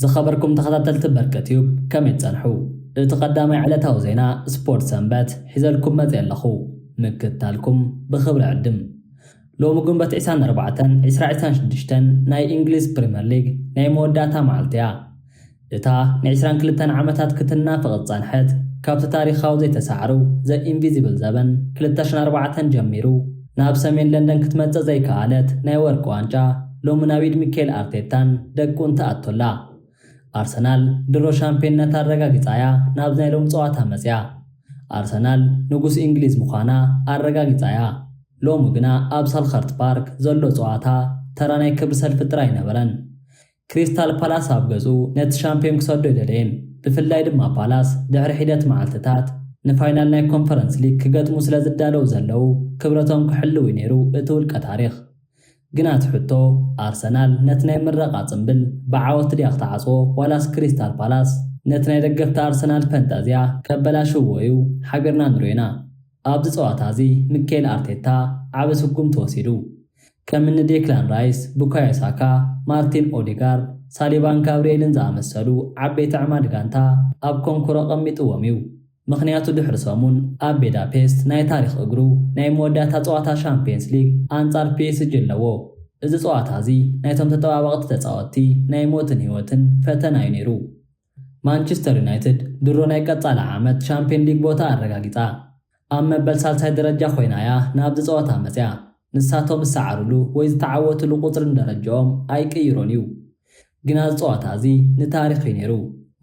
ዝኸበርኩም ተኸታተልቲ በርቀ ትዩብ ከመይ ትጸንሑ? እቲ ቀዳማይ ዕለታዊ ዜና ስፖርት ሰንበት ሒዘልኩም መጽ ኣለኹ ምክትታልኩም ብኽብሪ ዕድም ሎሚ ግንበት 24 2026 ናይ እንግሊዝ ፕሪምየር ሊግ ናይ መወዳእታ መዓልቲ እያ እታ ንዕስራን ክልተን ዓመታት ክትናፈቕ ዝጸንሐት፣ ካብቲ ታሪኻዊ ዘይተሳዕሩ፣ The Invisible ዘበን ክልተ ሽሕን ኣርባዕተን ጀሚሩ ናብ ሰሜን ለንደን ክትመጽእ ዘይከኣለት ናይ ወርቂ ዋንጫ፣ ሎሚ ናብ ኢድ ሚኬል ኣርቴታን ደቁን ትኣቱ ኣላ። ኣርሰናል ድሮ ሻምፕዮንነታ ኣረጋጊጻ'ያ ናብዚ ናይ ሎሚ ጸዋታ መጺኣ። ኣርሰናል ንጉስ እንግሊዝ ምዃና ኣረጋጊጻ'ያ። ሎሚ ግና ኣብ ሰልኸርት ፓርክ ዘሎ ጸዋታ ተራ ናይ ክብሪ ሰልፊ ጥራይ ኣይነበረን። ክሪስታል ፓላስ ኣብ ገዝኡ ነቲ ሻምፕዮን ክሰዶ ኣይደለየን፣ ብፍላይ ድማ ፓላስ ድሕሪ ሒደት መዓልትታት ንፋይናል ናይ ኮንፈረንስ ሊግ ክገጥሙ ስለ ዝዳለዉ ዘለዉ ክብረቶም ክሕልው'ዩ ነይሩ እቲ ውልቀ ታሪኽ። ግን ኣቲ ሕቶ፣ ኣርሰናል ነቲ ናይ ምረቓ ጽምብል ብዓወት ድያ ክትዓጽዎ ዋላስ ክሪስታል ፓላስ ነቲ ናይ ደገፍቲ ኣርሰናል ፈንጠዝያ ከበላሽውዎ'ዩ ሓቢርና ንርኦ ኢና። ኣብዚ ጸዋታ እዚ ምኬል ኣርቴታ ዓቢ ስጉም ተወሲዱ። ከም እኒ ዴክላን ራይስ፣ ቡካዮ ሳካ፣ ማርቲን ኦዴጋርድ፣ ሳሊባን ጋብርኤልን ዝኣመሰሉ ዓበይቲ ኣዕማዲ ጋንታ ኣብ ኮንኩሮ ኣቐሚጥዎም እዩ። ምኽንያቱ ድሕሪ ሰሙን ኣብ ቤዳፔስት ናይ ታሪኽ እግሩ ናይ መወዳእታ ጸዋታ ሻምፕየንስ ሊግ ኣንጻር ፒኤስጂ ኣለዎ። እዚ ጸዋታ እዚ ናይቶም ተጠባባቕቲ ተጻወትቲ ናይ ሞትን ህይወትን ፈተና እዩ ነይሩ። ማንችስተር ዩናይትድ ድሮ ናይ ቀፃሊ ዓመት ሻምፕዮን ሊግ ቦታ ኣረጋጊፃ ኣብ መበል ሳልሳይ ደረጃ ኮይና እያ ናብዚ ፀወታ መፅያ። ንሳቶም ዝሰዓርሉ ወይ ዝተዓወትሉ ቁፅርን ደረጅኦም ኣይቅይሮን እዩ። ግና እዚ ፀዋታ እዚ ንታሪኽ እዩ ነይሩ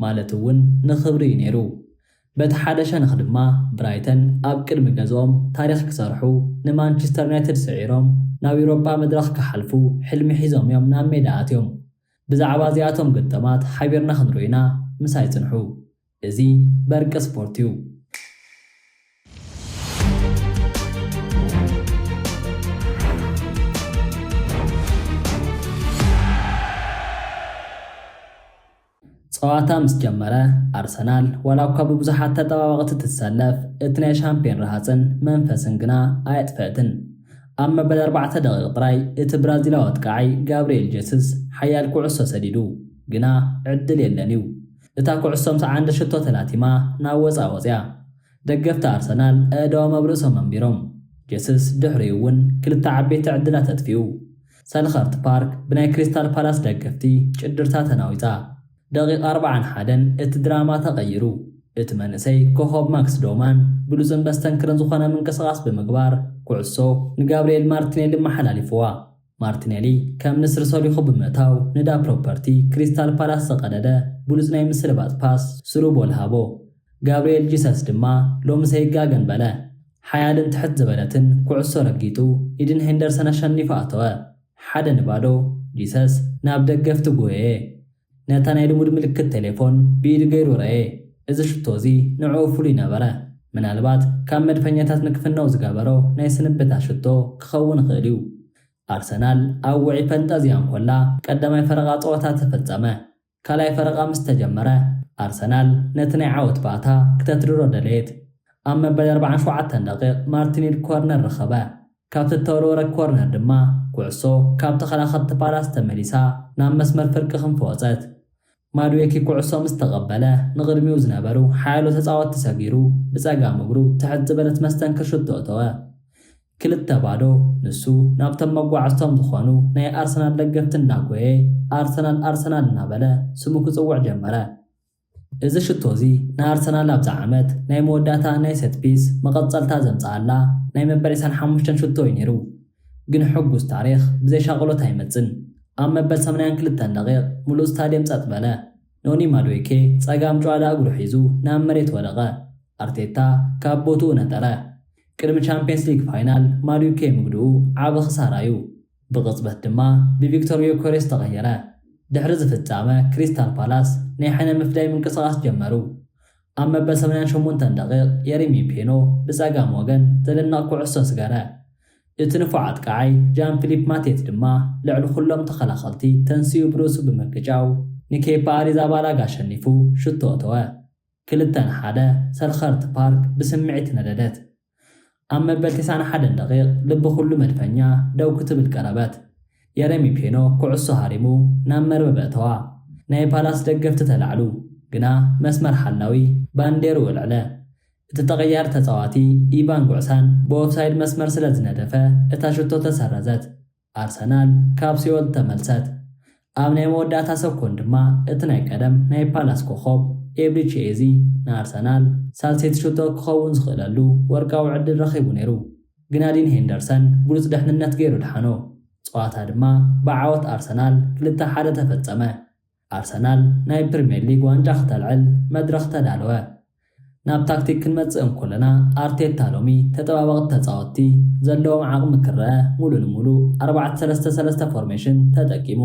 ማለት እውን ንኽብሪ እዩ ነይሩ። በቲ ሓደ ሸነኽ ድማ ብራይተን ኣብ ቅድሚ ገዝኦም ታሪኽ ክሰርሑ ንማንችስተር ዩናይትድ ስዒሮም ናብ ዩሮጳ መድረኽ ክሓልፉ ሕልሚ ሒዞም እዮም ናብ ሜዳ ኣትዮም። ብዛዕባ እዚኣቶም ግጥማት ሓቢርና ክንሪኦ ኢና ምሳይ ጽንሑ እዚ በርቂ ስፖርት እዩ። ጸዋታ ምስ ጀመረ ኣርሰናል ዋላኳ ብብዙሓት ተጠባበቕቲ ትሰለፍ እቲ ናይ ሻምፕዮን ረሃጽን መንፈስን ግና ኣየጥፈእትን። ኣብ መበል ኣርባዕተ ደቒቕ ጥራይ እቲ ብራዚላዊ ኣጥቃዓይ ጋብሪኤል ጀስስ ሓያል ኩዕሶ ሰዲዱ ግና ዕድል የለን'ዩ። እታ ኩዕሶ ምስ ዓንዲ ሽቶ ተላቲማ ናብ ወጻእ ወጺኣ። ደገፍቲ ኣርሰናል ኣእዳዎም ኣብ ርእሶም ኣንቢሮም፣ ጀስስ ድሕሪኡ እውን ክልተ ዓበይቲ ዕድላት ኣጥፊኡ። ሰልኸርት ፓርክ ብናይ ክሪስታል ፓላስ ደገፍቲ ጭድርታ ተናዊጻ። ደቒቕ ኣርብዓን ሓደን እቲ ድራማ ተቐይሩ። እቲ መንእሰይ ኮኾብ ማክስ ዶማን ብሉጽን መስተንክርን ዝኾነ ምንቅስቓስ ብምግባር ኩዕሶ ንጋብሪኤል ማርቲኔሊ ኣመሓላሊፉዋ። ማርቲነሊ ከም ንስሪ ሰሪሑ ብምእታው ንዳ ፕሮፐርቲ ክሪስታል ፓላስ ዝቐደደ ብሉጽ ናይ ምስልባጥ ፓስ ስሩ ቦል ሃቦ። ጋብሪኤል ጂሰስ ድማ ሎምስ ኣይጋገን በለ። ሓያልን ትሕት ዝበለትን ኩዕሶ ረጊጡ ኢድን ሄንደርሰን ኣሸኒፉ ኣተወ። ሓደ ንባዶ፣ ጂሰስ ናብ ደገፍቲ ጎየየ። ነታ ናይ ልሙድ ምልክት ቴሌፎን ብኢዱ ገይሩ ረኤ። እዚ ሽቶ እዚ ንዕኡ ፍሉይ ነበረ። ምናልባት ካብ መድፈኛታት ንክፍነው ዝገበሮ ናይ ስንብታ ሽቶ ክኸውን ይኽእል እዩ። ኣርሰናል ኣብ ውዑይ ፈንጠዝያ እንኮላ ቀዳማይ ፈረቓ ጸወታ ተፈጸመ። ካልኣይ ፈረቓ ምስ ተጀመረ ኣርሰናል ነቲ ናይ ዓወት ባእታ ክተትርሮ ደለየት። ኣብ መበል ኣርብዓን ሸውዓተን ደቒቕ ማርቲኒሊ ኮርነር ረኸበ። ካብቲ እተወርወረት ኮርነር ድማ ኩዕሶ ካብ ተኸላኸልቲ ፓላስ ተመሊሳ ናብ መስመር ፍርቂ ክንፊ ወጸት። ማድዌኪ ኩዕሶ ምስ ተቐበለ ንቕድሚኡ ዝነበሩ ሓያሎ ተጻወትቲ ሰጊሩ ብጸጋም እግሩ ትሕት ዝበለት መስተንክር ሹቶ እተወ። ክልተ ባዶ ንሱ ናብቶም መጓዕዝቶም ዝኾኑ ናይ ኣርሰናል ደገፍቲ እናጎየ ኣርሰናል ኣርሰናል እናበለ ስሙ ክጽውዕ ጀመረ። እዚ ሽቶ እዚ ንኣርሰናል ኣብዛ ዓመት ናይ መወዳእታ ናይ ሰት ፒስ መቐጸልታ ዘምጽኣላ ናይ መበል ዕስራን ሓሙሽተን ሽቶ እዩ ነይሩ። ግን ሕጉስ ታሪኽ ብዘይ ሻቕሎት ኣይመጽን። ኣብ መበል ሰማንያን ክልተን ደቒቕ ምሉእ ስታድየም ጸጥ በለ። ኖኒ ማድዌኬ ጸጋም ጭዋዳ እግሩ ሒዙ ናብ መሬት ወደቐ። ኣርቴታ ካብ ቦትኡ ነጠረ። ቅድሚ ቻምፕየንስ ሊግ ፋይናል ማድዊኬ ምግድኡ ዓቢ ክሳራ እዩ። ብቕጽበት ድማ ብቪክቶር ዮከሬስ ተቐየረ። ድሕሪ እዚ ፍጻመ ክሪስታል ፓላስ ናይ ሕነ ምፍዳይ ምንቅስቓስ ጀመሩ። ኣብ መበል ሰማንያን ሸሞንተን ደቒቕ የሪሚ ፔኖ ብጸጋም ወገን ዘደንቕ ኩዕሶ ስገረ። እቲ ንፉዕ ኣጥቃዓይ ጃን ፊሊፕ ማቴት ድማ ልዕሊ ኩሎም ተኸላኸልቲ ተንሲኡ ብርእሱ ብምግጫው ንኬፓ ኣሪዛባላጋ ኣሸኒፉ ሽቶ ኣተወ። ክልተ ን ሓደ ሰልኸርት ፓርክ ብስምዒት ነደደት። ኣብ መበል ቴስዓን ሓደን ደቒቕ ልቢ ኩሉ መድፈኛ ደው ክትብል ቀረበት። የረሚ ፔኖ ኩዕሶ ሃሪሙ ናብ መርበብ ኣእተዋ። ናይ ፓላስ ደገፍቲ ተላዕሉ፣ ግና መስመር ሓላዊ ባንዴርኡ ኣልዐለ። እቲ ተቐያሪ ተጻዋቲ ኢቫን ጉዕሳን ብኦፍሳይድ መስመር ስለ ዝነደፈ እታ ሸቶ ተሰረዘት። ኣርሰናል ካብ ሲኦል ተመልሰት! ኣብ ናይ መወዳእታ ሰኮን ድማ እቲ ናይ ቀደም ናይ ፓላስ ኮኾብ ኤብሪቺ ኤዚ ንኣርሰናል ሳልሰይቲ ሸቶ ክኸውን ዝኽእለሉ ወርቃዊ ዕድል ረኺቡ ነይሩ ግና ዲን ሄንደርሰን ብሉጽ ደሕንነት ገይሩ ኣድሓኖ። ጸዋታ ድማ ብዓወት ኣርሰናል ክልተ ሓደ ተፈጸመ። ኣርሰናል ናይ ፕሪምየር ሊግ ዋንጫ ክተልዕል መድረኽ ተዳለወ። ናብ ታክቲክ ክንመጽእ እንኮለና ኣርቴታ ሎሚ ተጠባበቕቲ ተጻወትቲ ዘለዎም ዓቕሚ ክረኣ ሙሉእ ንሙሉእ ኣርባዕተ ሰለስተ ሰለስተ ፎርሜሽን ተጠቂሙ።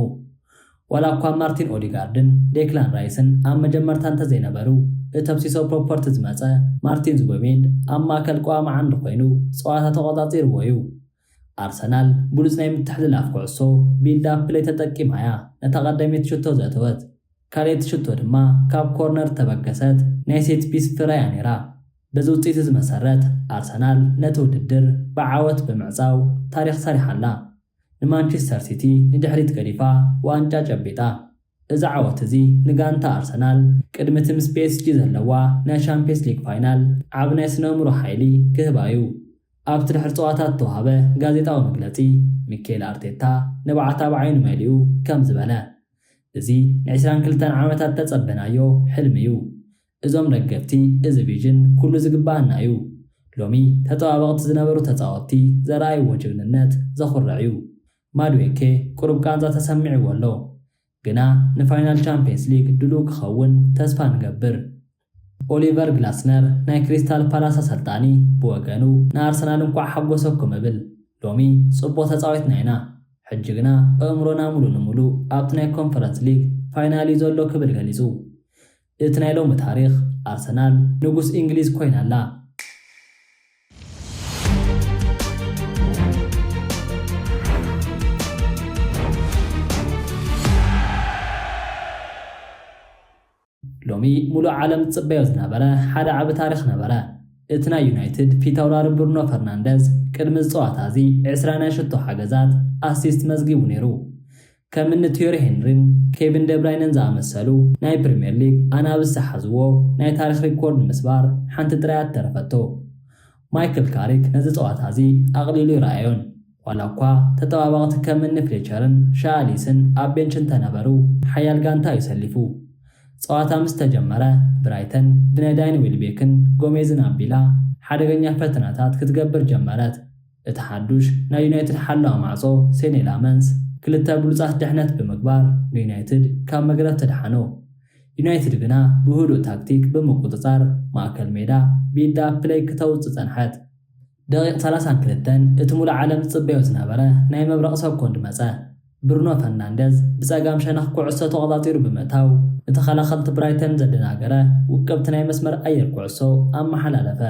ዋላ እኳ ማርቲን ኦዲጋርድን ዴክላን ራይስን ኣብ መጀመርታ እንተዘይነበሩ እቶብ ሲሶ ፕሮፐርቲ ዝመጸ ማርቲን ዙበሜንድ ኣብ ማእከል ቀዋሚ ዓንዲ ኮይኑ ጸዋታ ተቖጻጺርዎ'ዩ። ኣርሰናል ብሉጽ ናይ ምትሕልላፍ ኩዕሶ፣ ቢልድ ኣፕ ፕለይ፣ ተጠቂማ'ያ ነታ ቀዳመይቲ ሽቶ ዘእተወት። ካልኣይቲ ሽቶ ድማ ካብ ኮርነር እተበገሰት ናይ ሴት ፒስ ፍረ'ያ ነይራ። በዚ ውጽኢት'ዚ መሰረት ኣርሰናል ነቲ ውድድር ብዓወት ብምዕጻው ታሪኽ ሰሪሓ ኣላ። ንማንቸስተር ሲቲ ንድሕሪት ገዲፋ ዋንጫ ጨቢጣ። እዚ ዓወት'ዚ ንጋንታ ኣርሰናል ቅድሚ'ቲ ምስ ፒኤስጂ ዘለዋ ናይ ሻምፕዮንስ ሊግ ፋይናል ዓቢ ናይ ስነእምሮ ሓይሊ ክህባ'ዩ። ኣብቲ ድሕሪ ጸዋታ እተዋህበ ጋዜጣዊ መግለጺ፣ ሚኬል ኣርቴታ ንብዓታ ብዓይኑ መሊኡ ከምዚ በለ፣ እዚ ንዕስራን ክልተን ዓመታት እተጸበናዮ ሕልሚ እዩ። እዞም ደገፍቲ እዚ ቪዥን ኩሉ ዝግብኣና እዩ። ሎሚ ተጠባበቕቲ ዝነበሩ ተጻወትቲ ዘርኣይዎ ጅግንነት ዘኹርዕ እዩ። ማድዌኬ ቁሩብ ቃንዛ ተሰሚዕዎ ኣሎ። ግና ንፋይናል ቻምፕየንስ ሊግ ድሉው ክኸውን ተስፋ ንገብር። ኦሊቨር ግላስነር ናይ ክሪስታል ፓላስ ኣሰልጣኒ ብወገኑ ንኣርሰናል እንኳዕ ሓጎሰኩም እብል። ሎሚ ጽቡቕ ተጻዊትና ኢና፣ ሕጂ ግና ኣእምሮና ሙሉእ ንሙሉእ ኣብቲ ናይ ኮንፈረንስ ሊግ ፋይናል እዩ ዘሎ ክብል ገሊጹ። እቲ ናይ ሎሚ ታሪኽ ኣርሰናል ንጉስ ኢንግሊዝ ኮይና ኣላ። ሎሚ ሙሉእ ዓለም ዝጽበዮ ዝነበረ ሓደ ዓቢ ታሪኽ ነበረ። እቲ ናይ ዩናይትድ ፊት ኣውራሪ ብሩኖ ፈርናንደዝ ቅድሚ እዚ ጸዋታ እዚ ዕስራ ናይ ሽቶ ሓገዛት፣ ኣሲስት፣ መዝጊቡ ነይሩ። ከም እኒ ቲዮሪ ሄንሪን ኬቪን ደብራይነን ዝኣመሰሉ ናይ ፕሪምየር ሊግ ኣናብስ ዝሓዝዎ ናይ ታሪኽ ሪኮርድ ንምስባር ሓንቲ ጥራይ እያ እተረፈቶ። ማይክል ካሪክ ነዚ ጸዋታ እዚ ኣቕሊሉ ኣይረኣዮን። ዋላ እኳ ተጠባባቕቲ ከም እኒ ፍሌቸርን ሻያ ሊስን ኣብ ቤንች እንተነበሩ፣ ሓያል ጋንታ እዩ ሰሊፉ። ጸዋታ ምስ ተጀመረ፣ ብራይተን ብናይ ዳይን ዌልቤክን ጎሜዝን ኣቢላ ሓደገኛ ፈተነታት ክትገብር ጀመረት። እቲ ሓዱሽ ናይ ዩናይትድ ሓላዊ ማዕጾ ሴኔ ላመንስ ክልተ ብሉጻት ድሕነት ብምግባር ንዩናይትድ ካብ መግረፍቲ ኣድሓኖ። ዩናይትድ ግና ብህዱእ ታክቲክ ብምቁጽጻር ማእከል ሜዳ ቢልድ ኣፕ ፕለይ ክተውጽእ ጸንሐት። ደቂቅ ሰላሳን ክልተን እቲ ሙሉእ ዓለም ዝጽበዮ ዝነበረ ናይ መብረቅ ሰኮንድ መጸ። ብሩኖ ፈርናንደዝ ብጸጋም ሸነኽ ኩዕሶ ተቆጻጺሩ ብምእታው ንተኸላኸልቲ ብራይተን ዘደናገረ ውቅብቲ ናይ መስመር ኣየር ኩዕሶ ኣመሓላለፈ።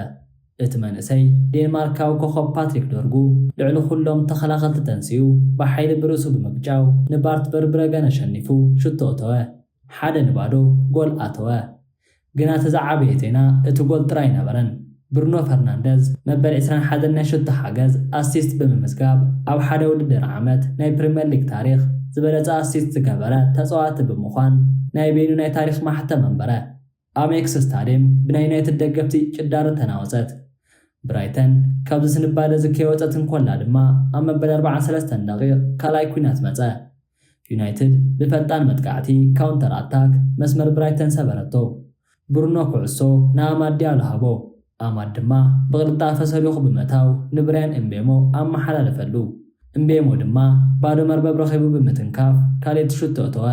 እቲ መንእሰይ ዴንማርካዊ ኮኾብ ፓትሪክ ዶርጉ ልዕሊ ኩሎም ተኸላኸልቲ ተንሲኡ ብሓይሊ ብርእሱ ብምግጫው ንባርት ቨርብረገን ኣሸኒፉ ሽቶ እተወ። ሓደ ንባዶ ጎል ኣተወ። ግና እቲ ዝዓበየ ዜና እቲ ጎል ጥራይ ኣይነበረን። ብሩኖ ፈርናንደዝ መበል ዕስራን ሓደን ናይ ሽቶ ሓገዝ፣ ኣሲስት፣ ብምምዝጋብ ኣብ ሓደ ውድድር ዓመት ናይ ፕሪመር ሊግ ታሪኽ ዝበለጸ ኣሲስት ዝገበረ ተጻዋቲ ብምዃን ናይ በይኑ ናይ ታሪኽ ማሕተም ኣንበረ። ኣብ ኤክስ ስታድየም ብናይ ዩናይትድ ደገፍቲ ጭዳሮ ተናወጸት። ብራይተን ካብዚ ስንባደ እዚ ከይወጸት እንኮላ ድማ ኣብ መበል ኣርብዓን ሰለስተን ደቒቕ ካልኣይ ኲናት መጸ። ዩናይትድ ብፈጣን መጥቃዕቲ፣ ካውንተር ኣታክ፣ መስመር ብራይተን ሰበረቶ። ብሩኖ ኩዕሶ ንኣማድ ዲያሎ ሃቦ፣ ኣማድ ድማ ብቕልጣፈ ሰሊኹ ብምእታው ንብርያን እምቤሞ ኣመሓላለፈሉ። እምቤሞ ድማ ባዶ መርበብ ረኺቡ ብምትንካፍ ካልእቲ ሹቶ እተወ።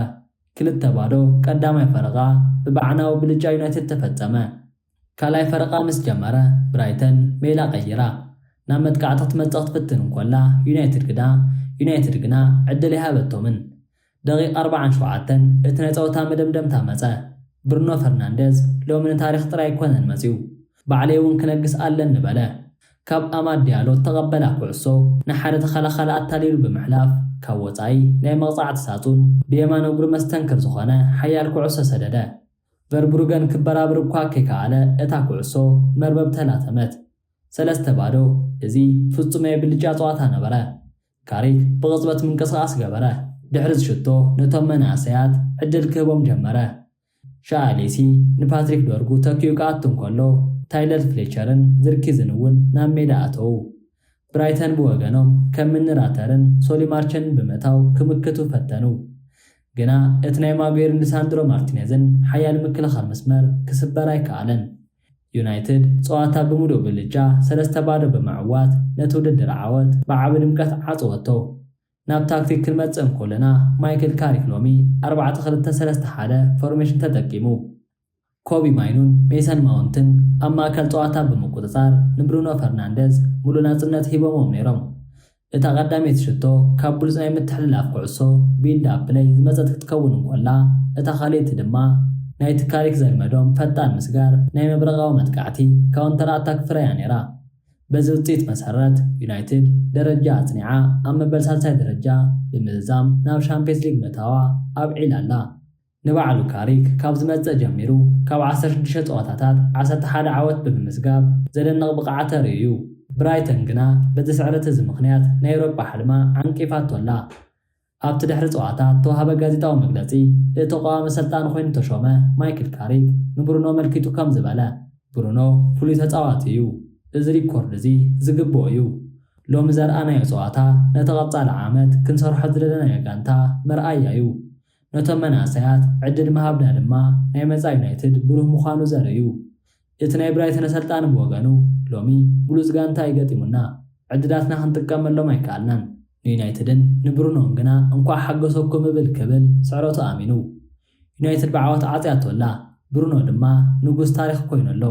ክልተ ባዶ ቀዳማይ ፈረቓ ብበዓናዊ ብልጫ ዩናይትድ ተፈጸመ። ካልኣይ ፈረቓ ምስ ጀመረ ብራይተን ሜላ ቀይራ ናብ መጥቃዕቲ ክትመጽእ ክትፍትን እንኮላ ዩናይትድ ግና ዩናይትድ ግና ዕድል ኣይሃበቶምን። ደቒቕ ኣርባዓን ሸውዓተን እቲ ናይ ጸወታ መደምደምታ መጸ። ብሩኖ ፈርናንደዝ ሎሚ ንታሪኽ ጥራይ ኣይኮነን መጺኡ ባዕለይ እውን ክነግስ ኣለኒ በለ። ካብ ኣማድ ዲያሎ እተቐበላ ኩዕሶ ንሓደ ተኸላኻሊ ኣታሊሉ ብምሕላፍ ካብ ወጻኢ ናይ መቕጻዕቲ ሳጹን ብየማን እግሩ መስተንክር ዝኾነ ሓያል ኩዕሶ ሰደደ። ቨርብሩገን ክበራብር እኳ ከይከኣለ እታ ኩዕሶ መርበብ ተላተመት። ሰለስተ ባዶ፣ እዚ ፍጹም ናይ ብልጫ ጸዋታ ነበረ። ካሪክ ብቕጽበት ምንቅስቓስ ገበረ። ድሕሪ ዝሽቶ ነቶም መናእሰያት ዕድል ክህቦም ጀመረ። ሻኣሌሲ ንፓትሪክ ዶርጉ ተኪኡ ክኣቱ እንከሎ፣ ታይለር ፍሌቸርን ዝርኪዝን እውን ናብ ሜዳ ኣተዉ። ብራይተን ብወገኖም ከም ምኒ ራተርን ሶሊ ማርቸንን ብምእታው ክምክቱ ፈተኑ። ግና እቲ ናይ ማጉየርን ሊሳንድሮ ማርቲነዝን ሓያል ምክልኻል መስመር ክስበር ኣይከኣለን። ዩናይትድ ጸዋታ ብምሉእ ብልጫ ሰለስተ ባዶ ብምዕዋት ነቲ ውድድር ዓወት ብዓቢ ድምቀት ዓጸወቶ። ናብ ታክቲክ ክንመጽእ እንኮለና ማይክል ካሪክ ሎሚ ኣርባዕተ ክልተ ሰለስተ ሓደ ፎርሜሽን ተጠቂሙ። ኮቢ ማይኑን ሜሰን ማውንትን ኣብ ማእከል ጸዋታ ብምቁጽጻር ንብሩኖ ፈርናንደዝ ምሉእ ናጽነት ሂቦምዎም ነይሮም። እታ ቀዳመይቲ ሽቶ ካብ ብሉጽ ናይ ምትሕልላፍ ኩዕሶ፣ ቢልድ ኣፕ ፕለይ፣ ዝመጸት ክትከውን እንኮላ እታ ካልኣይቲ ድማ ናይቲ ካሪክ ዘልመዶም ፈጣን ምስጋር ናይ መብረቓዊ መጥቃዕቲ፣ ካውንተር ኣታክ፣ ፍረ እያ ነይራ። በዚ ውፅኢት መሰረት ዩናይትድ ደረጃ ኣፅኒዓ ኣብ መበል ሳልሳይ ደረጃ ብምዝዛም ናብ ሻምፒየንስ ሊግ ምእታዋ ኣብዒላ ኣላ። ንባዕሉ ካሪክ ካብ ዝመፅእ ጀሚሩ ካብ ዓሰርተ ሽዱሽተ ፀዋታታት ዓሰርተ ሓደ ዓወት ብምምዝጋብ ዘደንቕ ብቕዓት ተሪኡ ዩ። ብራይተን ግና በዚ ስዕረት እዚ ምኽንያት ናይ ኤውሮጳ ሕልማ ዓንቂፋቶ ኣላ። ኣብቲ ድሕሪ ጸዋታ እተዋህበ ጋዜጣዊ መግለጺ፣ እቲ ቀዋሚ ኣሰልጣኒ ኰይኑ እተሾመ ማይክል ካሪክ ንብሩኖ ኣመልኪቱ ከምዚ በለ፣ ብሩኖ ፍሉይ ተጻዋቲ እዩ። እዚ ሪኮርድ እዚ ዝግብኦ እዩ። ሎሚ ዘርኣናዮ ጸዋታ ነቲ ቀጻሊ ዓመት ክንሰርሖ ዝደለናዮ ጋንታ መርኣያ እዩ። ነቶም መናእሰያት ዕድል ምሃብና ድማ ናይ መጻኢ ዩናይትድ ብሩህ ምዃኑ ዘርኢ እዩ። እቲ ናይ ብራይተን ኣሰልጣኒ ብወገኑ፣ ሎሚ ብሉጽ ጋንታ እዩ ገጢሙና። ዕድላትና ክንጥቀመሎም ኣይከኣልናን። ንዩናይትድን ንብሩኖን ግና እንቋዕ ሓጎሰኩም እብል ክብል ስዕረቱ ኣሚኑ። ዩናይትድ ብዓወት ዓጽያቶ ኣላ፣ ብሩኖ ድማ ንጉስ ታሪኽ ኮይኑ ኣሎ።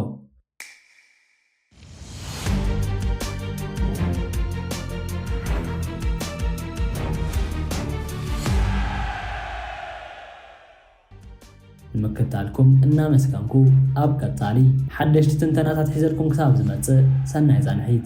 ንምክታልኩም እናመስገንኩ ኣብ ቀፃሊ ሓደሽቲ ትንተናታት ሒዘልኩም ክሳብ ዝመፅእ ሰናይ ፃንሒት።